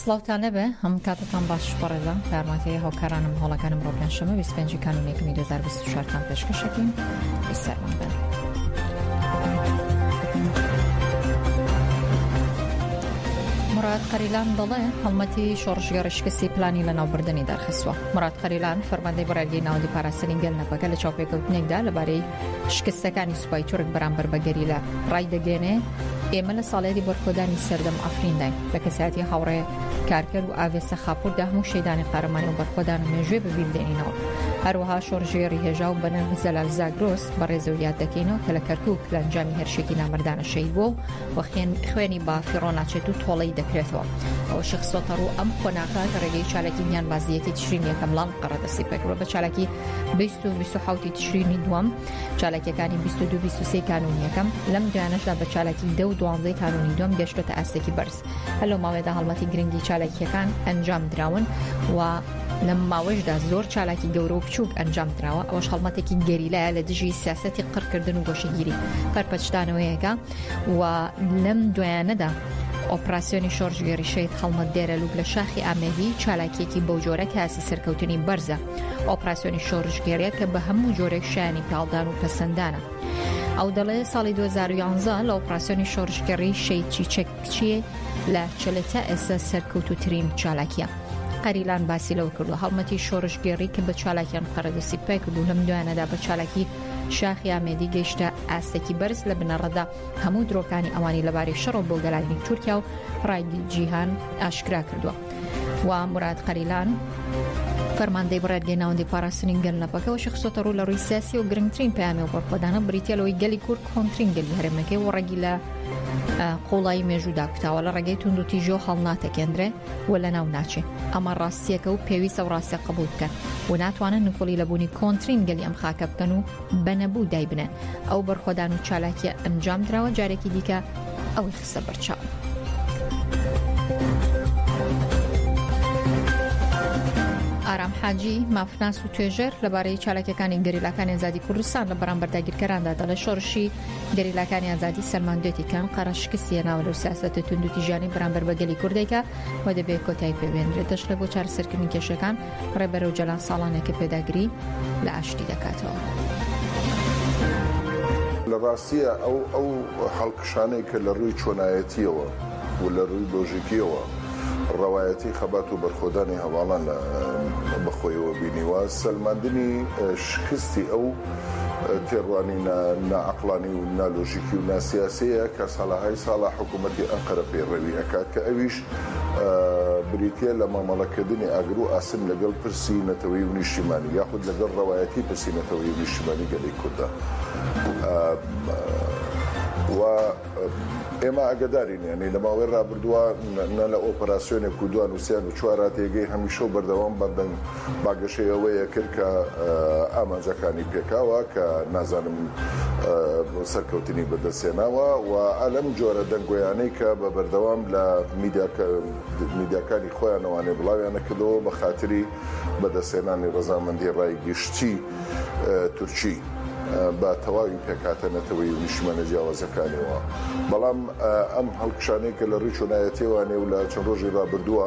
سڵاوتان لێبێ هەموو کاتتان باش بەڕێزان یارمەتیە هاوکارانم هەوڵەکانم بۆ پێنجشەمە 25 کانون یەکەمی 2024 تان پێشکەشەکەین سەرمان بن. مراد قەریلان دەڵێ هەڵمەتی شۆڕشگەڕی شکستی پلانی لە ناوبردننی دەرخستوە مراد قەریلان فەرماندەی بەڕێگەی ناودی پاراستنی گەل نەپەکە لە چاوپێکەوتنێکدا لەبارەی شکستەکانی سوپای تورک بەرامبەر بەگەریلا ڕای دەگەێنێ ئێمە لە ساڵیادی بەرخۆدانی سەردەم عەفرینداین لە کەسایەتی هاوڕێ کارکەر و ئاڤێ سەخاپوردا هەموو شەیدانی قارەمانی و بەرخۆدان و مێژوێ بەبیر دێنینەوە هەروەها شۆڕژێڕی هێژا و بەنرخ زەلال زاگرۆس بەڕێزە و یاد دەکەینەوە کە لە کەرکوک لە ئەنجامی هەرشێکی نامردانە شەید بووە و وەخێن خوێنی بافیڕۆ ناچێت و تۆڵەی دەکرێتەوە ئەوە شخصۆتە ڕوو ئەم قۆناغە کە ڕێگەی چالکی گیان بازیەتی تشرین یەکەم لاڵ قەڕەدەسی پێکڕۆ بە چالاکی 20 و 20 تشرینی دووەم چالاکیەکانی 22 23 کانون یەکەم لەم دویانەشدا بە چالاکی دە و دوانزەی کانونی دوم گەشتۆتە ئاستێکی بەرز هەر لەو ماوەیەدا هەڵمەتی گرنگی چالاکیەکان ئەنجام دراون و لەم ماوەشدا زۆر چالاکی گەورە و بچووک ئەنجام دراوە ئەوش هەڵمەتێکی گەریلایە لە دژی سیاستی قڕکردن و گۆشەگیری پەرپەچدانەوەیەەکە و لەم دوایانەدا ئۆپراسسیۆنی شۆرژگەری شەید هەڵمەت دێرە لوک لە شاخی ئامێدی چالاکیەکی بەو جۆرە کاسی سەرکەوتنی بەرزە ئۆپراسیۆنی شۆڕشگێڕیە کە بە هەموو جۆرێک شایانی پاڵدان و پەسەندانە. ئەو دەڵێ ساڵی 2011 لە ئۆپراسسیۆنی شۆڕشگەڕی شەی چیچەک کچیە لە چلە تا ئێستا سەرکەوتوترین چالاکیە. قەریلان باسی لەوە کردو هەڵمەتی شۆڕشگێڕی کە بە چالاکیان قەرەدەسی پای کردو لەم دوایانەدا بە چالاکی شاخی ئامێدی گەیشتە ئاستێکی بەرز لە بنەڕەدا هەموو درۆکانی ئەوانی لەبارەی شەڕۆ بۆ گەلانی تورکیا و ڕای جیهان ئاشکرا کردووە. و موراد قەریلان فەرماندەی بڕێدگەی ناوەندی پاراستنی گەل نەپەکەەوە شخصۆتە ڕوو لە ڕووی سیاسی و گرنگترین پامێ و بەرخۆدانە بریتە لەوەی گەلی کورد کۆنترین گەلی هەرێمەکەی و ڕەگی لە قوڵایی مێژوودا کوتاوە لە ڕێگەی تونند و تیژۆ هەڵناتەکێندرێ و لە ناو ناچێ ئەمە ڕاستیەکە و پێویستە و ڕاستە قبول بکەن و ناتوانن نکۆڵی لە بوونی کۆنترین گەلی ئەم خاکە بکەن و بەنەبوو دایبنێن ئەو بەرخۆدان و چالاکیە ئەنجام دراوە جارێکی دیکە ئەوەی قسە بەرچاوئارام حاجی مافناس و توێژەر لەبارەی چالاکیەکانی گەریلاکانی ئازادی کوردستان لە بەرامبەر داگیرکەراندا دەڵێ شۆڕشی گەریلاکانی ئازادی سەلماندێتی کەم قەرە شکستیە ناوە لەو سیاستە توندوتیژانی بەرامبەر بە گەلی کوردێکە و دەبێت کۆتای پێبێنرێت دەشڵێ بۆ چارەسەرکردنی کێشەکان ڕێبەر ئۆجەلان ساڵانێکە پێداگری لە ئاشتی دەکاتەوە. لە ڕاستیە ئەو ئەو هەڵکشانەی کە لە ڕووی چۆنایەتیەوە و لە ڕووی لۆژیکیەوە ڕەوایەتی خەبات و بەرخۆدانی هەواڵان لە بەخۆیەوە بینیوە سەلماندنی شکستی ئەو تێڕوانی ناعقلانی و نالۆژیکی و ناسیاسەیە کە ساڵەهای ساڵە حکوومەتتی ئەنقەرە پەیڕەوی ئەکات کە ئەویش بریتیە لە مامەڵەکردنی ئاگرو ئاسن لەگەڵ پرسی نەتەوەیی و نیشتیمانی یاخود لەگەڵ ڕەوایەتی پرسی نەتەوەیی و نیشتیمانی گەلی کوردە و ئێمە ئاگەدارین یانی لە ماوەی ڕابردووە نە لە ئۆپەراسیۆنێک و دوان و سێیان و چوارا تێگەی هەمیشە و بەردەوام بەردەنگ بانگەشەی ئەوەی کرد کە ئامانجەکانی پێکاوە کە نازانم سەرکەوتنی بەدەستهێناوە و لەم جۆرە دەنگۆیانەی کە بە بەردەوام لە میدیاکانی خۆیانەوانێ بڵاویانەکردەوە بە خاتری بەدەستهێنانی ڕەزامەندی ڕای گشتی تورکی بە تەواوی پێکهاتە نەتەوەیی و نیشتیمانە جیاوازەکانیەوە بەڵام ئەم هەڵکشانەی کە لە ڕووی چۆنایەتیەوانێ و لە چەند ڕۆژی ڕابردووە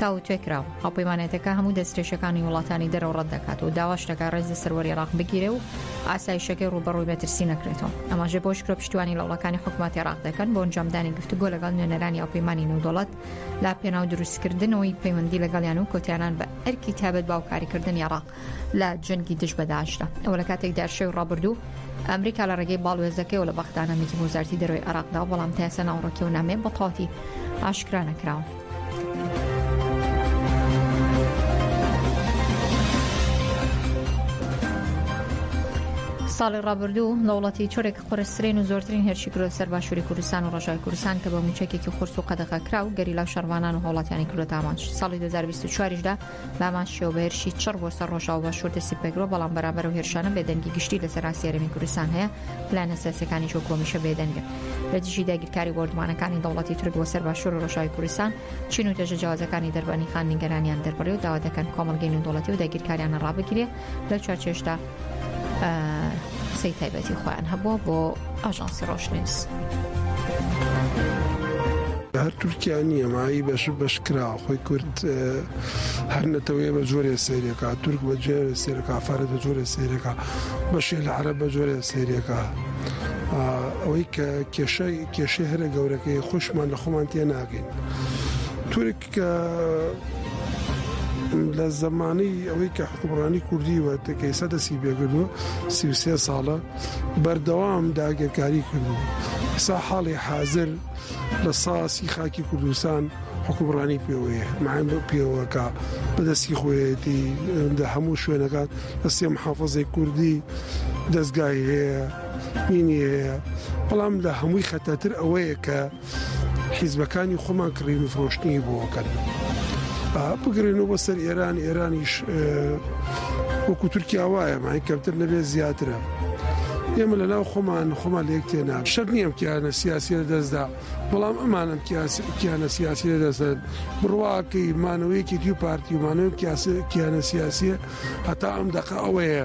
تاوتوێکراو، هاوپەیمانێتەکە هەموو دەسترێژەکانی وڵاتانی دەرەوە ڕەت دەکات و داواش دەکات ڕێز لە سەروەری عێراق بگیرێ و ئاسایشەکەی ڕووبەڕووی مەترسی نەکرێتەوە. ئاماژە بەوەش کرا پشتیوانی لە هەوڵەکانی حکومەتی عێراق دەکەن بۆ ئەنجامدانی گفتوگۆ لەگەڵ نوێنەرانی هاوپەیمانی نێودەوڵەت لە پێناو دروستکردنەوەی پەیوەندی لەگەڵیان و کۆتایهێنان بە ئەرکی تایبەت بە هاوکاریکردنی عێراق. لە جەنگی دژ بە داعشدا ئەوە لە کاتێکدا شەوی ڕابردوو ئەمریکا لە ڕێگەی باڵوێزەکەیەوە لە بەغدا نامێکی بۆ وەزارەتی دەرەوەی عێراقدا و بەڵام تا ئێستا ناوەڕۆکی و نامەیە بە تەواوەتی ئاشکرا نەکراوە. ساڵی ڕابردوو دەوڵەتی تورک قورسرین و زۆرترین هێرشی کرۆ سەر باشووری کوردستان و ڕژای کوردستان کە بە موچەکێکی قورس و قەدەغە کرا و گەریلا و شەڕوانان و هەوڵاتیانی کرۆ دامانج ساڵی 2024دا بامان شیەوە بە هێرشی چڕ بۆ سەر ڕۆژاو باشوور دەستی پێکرەوە بەڵام بەرامبەر و هێرشانە بێدەنگی گشتی لە سەراسی هەرێمی کوردستان هەیە پلانە سیاسەکانی شۆ کۆمیشە بێدەنگە لە دژی داگیرکاری بۆردمانەکانی دەوڵەتی تورک بۆ سەر باشوور و ڕۆژاوی کوردستان چین و دەژە جیازەکانی دەربانی خان نیگەرانیان دەربڕی و داوا دەکەن کۆمەڵگەی نێودوڵەتی و داگیرکاریانە ڕابگرێ لە چارچێشدا قسەی تایبەتی خۆیان هەبووە بۆ ئاژانسی ڕۆشنیوز. هەر تورکیا نییە مایی بەش بەش کرا خۆی کورد هەر نەتەوەیە بە جۆرێ سێرێکا تورک بە جێ سێرەکە فارە بە جۆرێ سێرەکە بەشێ لە عرە بە جۆرێ سێرێکە ئەوەی کە کێشە کێشە هەرە گەورەکەی خۆشمان لە خۆمان تێ ناگەین تورک کە لە زمانی ئەوەی کە حکومڕانی کوردی وە تکەیسە دەسی بێگردوە سیوسێ ساڵە بەردەوام داگەرکاری کردو سا حاڵی حاضر لە ساسی خاکی کوردستان حکومڕانی پێوەیە معین بە پێوەکە بەدەستی خۆیەتی لە هەموو شوێنەکان لە سێ محافظی کوردی دەستگای هەیە مینی هەیە بەڵام لە هەمووی خەتەتر ئەوەیە کە حیزبەکانی خۆمان کڕین و فرۆشتنی بۆکەن بگرێنەوە بە سەر ئێران ئێرانیش وەکو تورکیا وایە مای کەمتر نەبێت زیاترە. ئێمە لە ناو خۆمان خۆمان لێک تێنا شەر نییەم کیانە سیاسی لە دەستدا بەڵام ئەمانم کیانە سیاسی لە دەستدان بڕواکەی مانەوەیەکی دی و پارتیمانەوە کیانە سیاسیە هەتا ئەم دەقە ئەوەیە.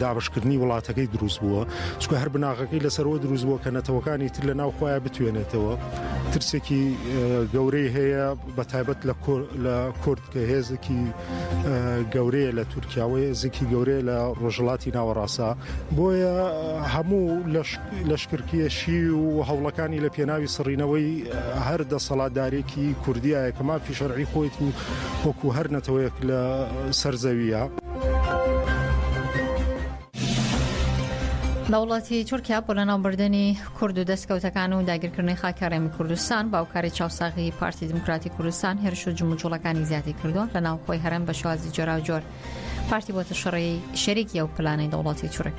دابشکردنی وڵاتەکەی دروست بووە چکە هەر بناغەکەی لەسەرەوە دروست بووە کە نەتەوەکانی تر لە ناو خۆیان بتوێنێتەوە ترسێکی گەورەی هەیە بە تایبەت لە لە کورد کە هێزێکی گەورەیە لە تورکیاوەیە زیکی گەورەیە لە ڕۆژڵاتی ناوەڕاستە بۆیە هەموو لەشکرکیەشی و هەوڵەکانی لە پێناوی سڕینەوەی هەر دەسەڵاتدارێکی کوردایە کە مافی شەرعی خۆیت و وەکو هەر نەتەوەیەک لە سەرزەویە. لە وڵاتی تورکیا بۆ لە ناوبردننی کورد و دەستکەوتەکان و داگیرکردنی خاکە ڕێمی کوردستان باوکاری چاوساغی پارتی دموکراتی کوردستان هێرش و جموجوڵەکانی زیادی کردووە لە ناوخۆی هەرم بە شوازی جۆراوجۆر پارتی بۆتە شەڕی شەرێکی ئەو پلانەی دەوڵاتی تورک.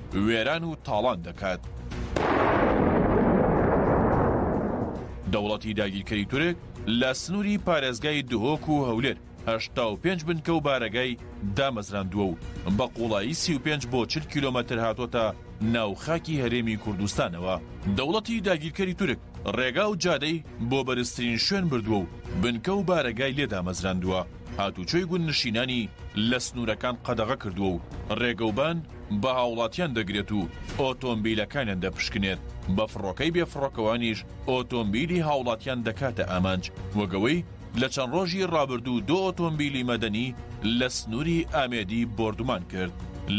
وێران و تاڵان دەکات. دەوڵەتی داگیرکەری تورک لە سنووری پارێزگای دهۆک و هەولێر هەشتا و پێنج بنکە و بارەگای دامەزراندووە و بە قووڵایی سی و پێنج بۆ چل کیلۆمەتر هاتووەتە ناو خاکی هەرێمی کوردستانەوە. دەوڵەتی داگیرکەری تورک ڕێگا و جادەی بۆ بەرزترین شوێن بردووە و بنکە و بارەگای لێ دامەزراندووە، هاتوچۆی گوندنشینانی لە سنوورەکان قەدەغە کردووە و ڕێگەوبان بە هاوڵاتیان دەگرێت و ئۆتۆمبیلەکانیان دەپشکنێت، بە فڕۆکەی بێ فڕۆکەوانیش ئۆتۆمبیلی هاوڵاتیان دەکاتە ئامانج، وەک ئەوەی لە چەند ڕۆژی ڕابردوو دو ئۆتۆمبیلی مەدەنی لە سنوری ئامێدی بۆردومان کرد.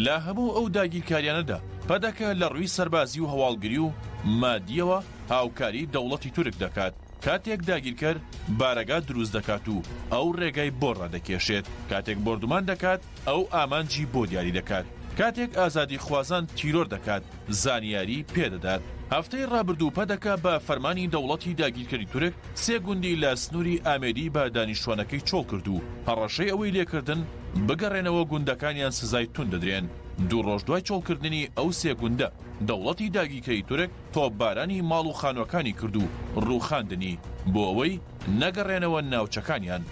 لە هەموو ئەو داگیرکاریانەدا پەدەکە لە ڕوی سەربازی و هەواڵگری و مادیەوە هاوکاری دەوڵەتی تورک دەکات، کاتێک داگیرکەر بارەگا دروست دەکات و ئەو ڕێگای بۆ ڕادەکێشێت، کاتێک بۆردومان دەکات، ئەو ئامانجی بۆ دیاری دەکات. کاتێک ئازادیخوازان تیرۆر دەکات، زانیاری پێدەدات. هەفتەی ڕابردوو پەدەکە بە فەرمانی دەوڵەتی داگیرکەری تورک سێ گوندی لە سنووری ئامێدی بە دانیشتووانەکەی چۆڵ کرد و هەڕەشەی ئەوەی لێکردن بگەڕێنەوە گوندەکانیان سزای توند دەدرێن. دوو ڕۆژ دوای چۆڵکردنی ئەو سێ گوندە، دەوڵەتی داگیرکەری تورک تۆپبارانی ماڵ و خانووەکانی کرد و ڕووخاندنی بۆ ئەوەی نەگەڕێنەوە ناوچەکانیان.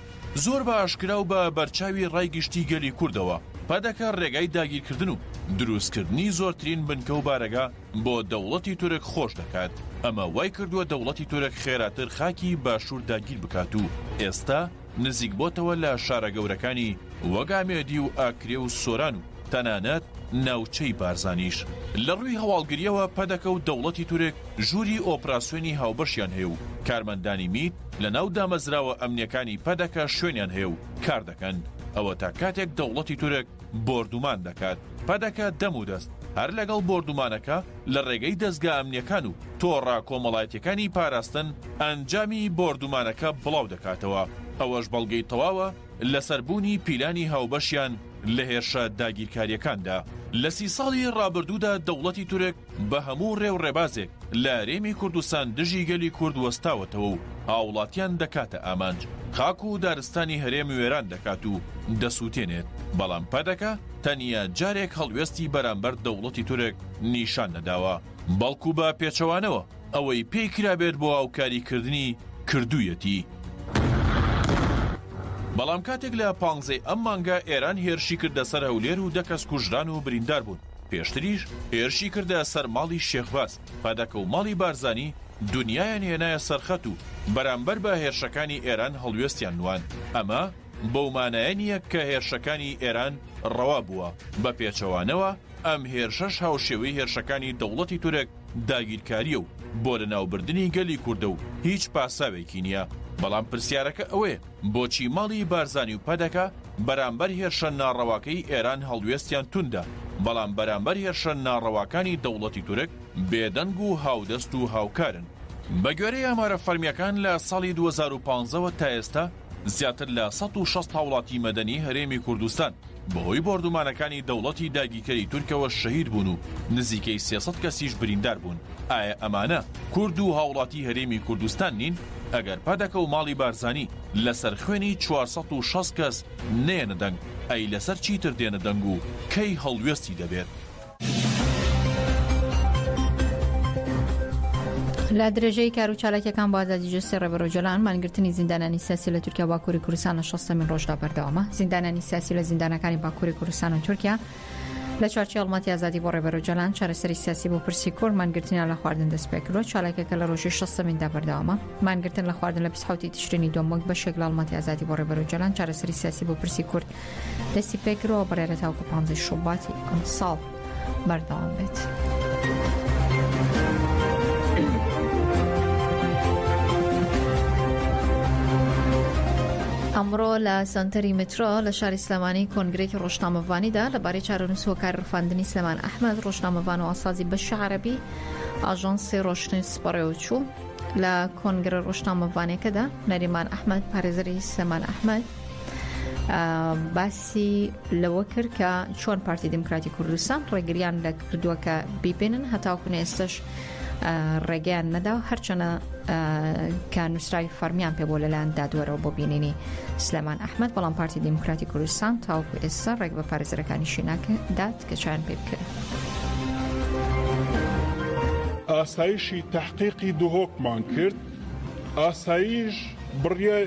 زۆر بە ئاشکرا و بە بەرچاوی ڕای گشتی گەلی کوردەوە، پەدەکە ڕێگای داگیرکردن و دروستکردنی زۆرترین بنکە و بارەگا بۆ دەوڵەتی تورک خۆش دەکات، ئەمە وای کردووە دەوڵەتی تورک خێراتر خاکی باشوور داگیر بکات و ئێستا نزیکبۆتەوە لە شارە گەورەکانی وەک ئامێدی و ئاکرێ و سۆران و تەنانەت ناوچەی بارزانیش لە ڕووی هەواڵگرییەوە پەدەکە و دەوڵەتی تورک ژووری ئۆپراسیۆنی هاوبەشیان هەیە و کارمەندانی میت لە ناو دامەزراوە ئەمنییەکانی پەدەکە شوێنیان هەیە و کار دەکەن، ئەوەتا کاتێک دەوڵەتی تورک بۆردومان دەکات پەدەکە دەم و دەست هەر لەگەڵ بۆردومانەکە لە ڕێگەی دەزگا ئەمنییەکان و تۆڕە کۆمەڵایەتییەکانی پاراستن ئەنجامی بۆردومانەکە بڵاو دەکاتەوە، ئەوەش بەڵگەی تەواوە لەسەر بوونی پیلانی هاوبەشیان لە هێرشە داگیرکارییەکاندا. لە سی ساڵی ڕابردوودا دەوڵەتی تورک بە هەموو ڕێ و ڕێبازێک لە هەرێمی کوردستان دژی گەلی کورد وەستاوەتەوە و هاوڵاتیان دەکاتە ئامانج، خاک و دارستانی هەرێم وێران دەکات و دەسووتێنێت، بەڵام پەدەکە تەنیا جارێک هەڵوێستی بەرامبەر دەوڵەتی تورک نیشان نەداوە، بەڵکو بە پێچەوانەوە، ئەوەی پێی کرابێت بۆ هاوکاری کردنی کردوویەتی. بەڵام کاتێک لە پانزەی ئەم مانگە ئێران هێرشی کردە سەر هەولێر و دە کەس کوژران و بریندار بوون، پێشتریش هێرشی کردە سەر ماڵی شێخ باز، پەدەکە و ماڵی بارزانی دونیایان هێنایە سەر خەت و بەرامبەر بە هێرشەکانی ئێران هەڵوێستیان نواند، ئەمە بەو مانایە نییە کە هێرشەکانی ئێران ڕەوا بووە، بە پێچەوانەوە ئەم هێرشەش هاوشێوەی هێرشەکانی دەوڵەتی تورک، داگیرکاریە و بۆ لەناوبردنی گەلی کوردە و هیچ پاساوێکی نیە، بەڵام پرسیارەکە ئەوەیە بۆچی ماڵی بارزانی و پەدەکە بەرامبەر هێرشە ناڕەواکەی ئێران هەڵوێستیان توندە بەڵام بەرامبەر هێرشە ناڕەواکانی دەوڵەتی تورک بێدەنگ و هاودەست و هاوکارن؟ بەگوێرەی ئامارە فەرمیەکان لە ساڵی دوو هەزار و پازدە وە تا ئێستا زیاتر لە سەد و شەست هاوڵاتی مەدەنی هەرێمی کوردستان بەهۆی بۆردومانەکانی دەوڵەتی داگیکەری تورکەوە شەهید بوون و نزیکەی سێ سەد کەسیش بریندار بوون ئایا ئەمانە کورد و هاوڵاتی هەرێمی کوردستان نین ئەگەر پەدەکە و ماڵی بارزانی لەسەر خوێنی چوار سەد و شەست کەس نەیەنە دەنگ ئەی لەسەر چیتر دێنە دەنگ و کەی هەڵوێستی دەبێت؟ لە درێژەی کار و چالاکیەکان بۆ ئازادی جستی ڕێبەر جۆلان مانگرتنی زیندانانی سیاسی لە تورکیا باکووری کوردستان لە شەستەمین ڕۆژدا بەردەوامە زیندانانی سیاسی لە زیندانەکانی باکووری کوردستان و تورکیا لە چارچی هەڵمەتی ئازادی بۆ ڕێبەر جۆلان چارەسەری سیاسی بۆ پرسی کورد مانگرتنیان لە خواردن دەست پێکردوە چالاکەکە لە ڕۆژی شەستەمیندا بەردەوامە مانگرتن لە خواردن لە پسحوتی تشرینی دۆمۆک بە شێک لە هەڵمەتی ئازادی بۆ ڕێبەر جۆلان چارەسەری سیاسی بۆ پرسی کورد دەستی پێکرەوە بڕێرە تاوکو پانزەی شوباتی ئەم ساڵ بەردەوام بێت. ئەمڕۆ لە سنتەری مترۆ لە شاری سلمانی کۆنگرێکی ڕۆژنامەڤانیدا لەبارەی چارەنووس هۆکار ڕفاندنی سلمان ئەحمد ڕۆژنامەڤان و ئاسازی بەش عربی ئاژانسی ڕۆشتن سپڕێ و چوو لە کۆنگرە ڕۆژنامەڤانەکەدا نەریمان ئەحمد پارێزری سلمان ئەحمد باسی لەوە کرد کە چۆن پارتی دیموکراتی کوردستان ڕێگریان لە کردووە کە بیبێنن هەتاوکونە ئێستش ڕێگەیان نەدا و هەرچەنە کە نووسراوی فەرمیان پێ بۆ لەلایەن دادوەرەوە بۆ بینینی سلێمان ئەحمد بەڵام پارتی دیموکراتی کوردستان تاوکو ئێستا ڕێک بە پارێزەرەکانی شیناکە دات کە چیان پێ بکەن. ئاسایشی تحقیقی دهۆکمان کرد ئاسایش بڕیای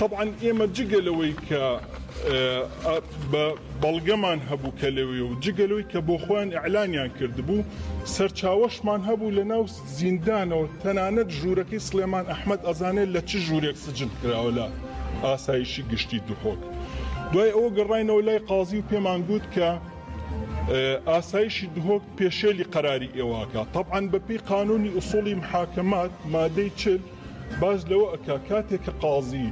تەبعەن ئێمە جگە لەوەی کە بە بەڵگەمان هەبوو کە لەوێ و جگە لەوەی کە بۆ خۆیان ئیعلانیان کردبوو، سەرچاوەشمان هەبوو لە ناو زیندانەوە، تەنانەت ژوورەکەی سڵێمان ئەحمەد ئەزانێ لە چ ژوورێک سجن کراوە لە ئاسایشی گشتی دهۆک. دوای ئەوە گەڕاینەوە لای قازی و پێمان گوت کە ئاسایشی دهۆک پێشێلی قەراری ئێوە ئەکا. تەبعەن بەپێی قانوونی ئوسووڵی محاکەمات، مادەی چل، باس لەوە ئەکا کاتێ کە قازی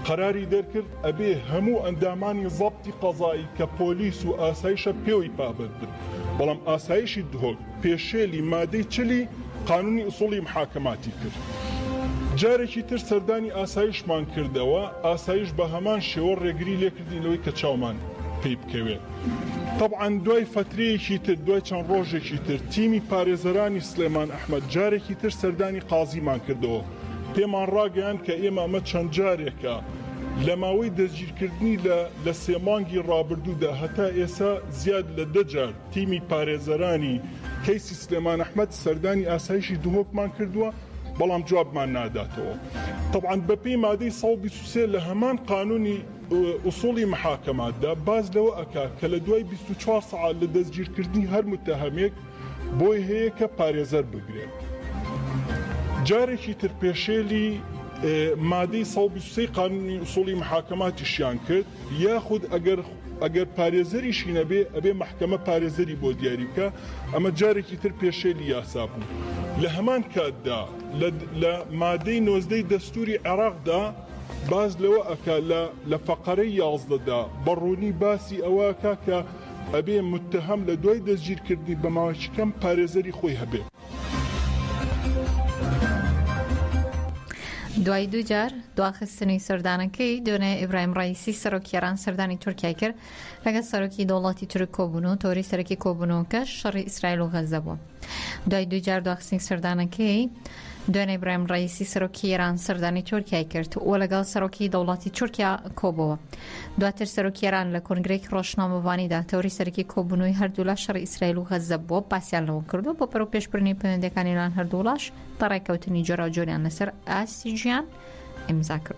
قەراری دەرکرد ئەبێ هەموو ئەندامانی زەبتی قەزایی کە پۆلیس و ئاسایشە پێوەی پابەند بن بەڵام ئاسایشی دهۆک پێشێلی مادەی چلی قانونی ئسوڵی محاکماتی کرد جارێکی تر سەردانی ئاسایشمان کردەوە ئاسایش بە هەمان شێوە ڕێگری لێ کردین لەوەی کە چاومان پێی بکەوێت تەبعەن دوای فەترەیەکی تر دوای چەند ڕۆژێکی تر تیمی پارێزەرانی سلێمان ئەحمەد جارێکی تر سەردانی قازیمان کردەوە پێمان ڕاگەیاند کە ئێمە ئەمە چەند جارێکە لە ماوەی دەستگیرکردنی لە لە سێ مانگی ڕابردوودا هەتا ئێسا زیاد لە دە جار تیمی پارێزەرانی کەیسی سلێمان ئەحمەد سەردانی ئاسایشی دهۆکمان کردووە. بەڵام جوابمان ناداتەوە تەبعەن بەپێی مادەی سەد و بیست و سێ لە هەمان قانونی ئوسوڵی محاکەماتدا باس لەوە ئەکا کە لە دوای بیست و چوار سەعات لە دەستگیرکردنی هەر متەهەمێک بۆی هەیە کە پارێزەر بگرێت جارێکی تر پێشێلی مادەی سەد و بیست و سێ قانونی ئوسوڵی محاکەماتیشیان کرد یاخود ئەگەر ئەگەر پارێزەریشی نەبێ ئەبێ مەحکەمە پارێزەری بۆ دیاری بکا، ئەمە جارێکی تر پێشێلی یاسا بوو. لە هەمان کاتدا لە مادەی نۆزدە ی دەستووری عێراقدا باس لەوە ئەکا لە لە فەقەرەی یازدە دا بە ڕوونی باسی ئەوە ئەکا کە ئەبێ متتەهەم لە دوای دەستگیرکردنی بە ماوەیەکی کەم پارێزەری خۆی هەبێ. دوای دووجار دواخستنی سەردانەکەی دۆنێ ئیبراهیم ڕئیسی سەرۆکی ئێران سەردانی تورکیای کرد لەگەڵ سەرۆکی دەوڵەتی تورک کۆبوون و تۆری سەرەکی کۆبوونەوەکە شەڕی ئیسرائیل و غەزە بووە دوای دووجار دواخستنی سەردانەکەی دوێنێ برایم ڕیسی سەرۆکی ئێران سەردانی تورکای کرد و لەگەڵ سەرۆکی دەوڵاتی تورکیا کۆبەوە دواتر سەرۆکی ئێران لە کۆنگرەیەکی ڕۆژنامەڤانیدا تەوری سەرەکی کۆبوونەوەی هەردوولا شەڕی ئیسرائیل و غەززە بووە باسیان لەوە کردووە بۆ پەرەو پێشبرنی پەیوەندەکانی لەلایەن هەردووڵاش بە ڕێککەوتنی جۆراوجۆریان لەسەر ئاستی ژیان ئیمزا کردو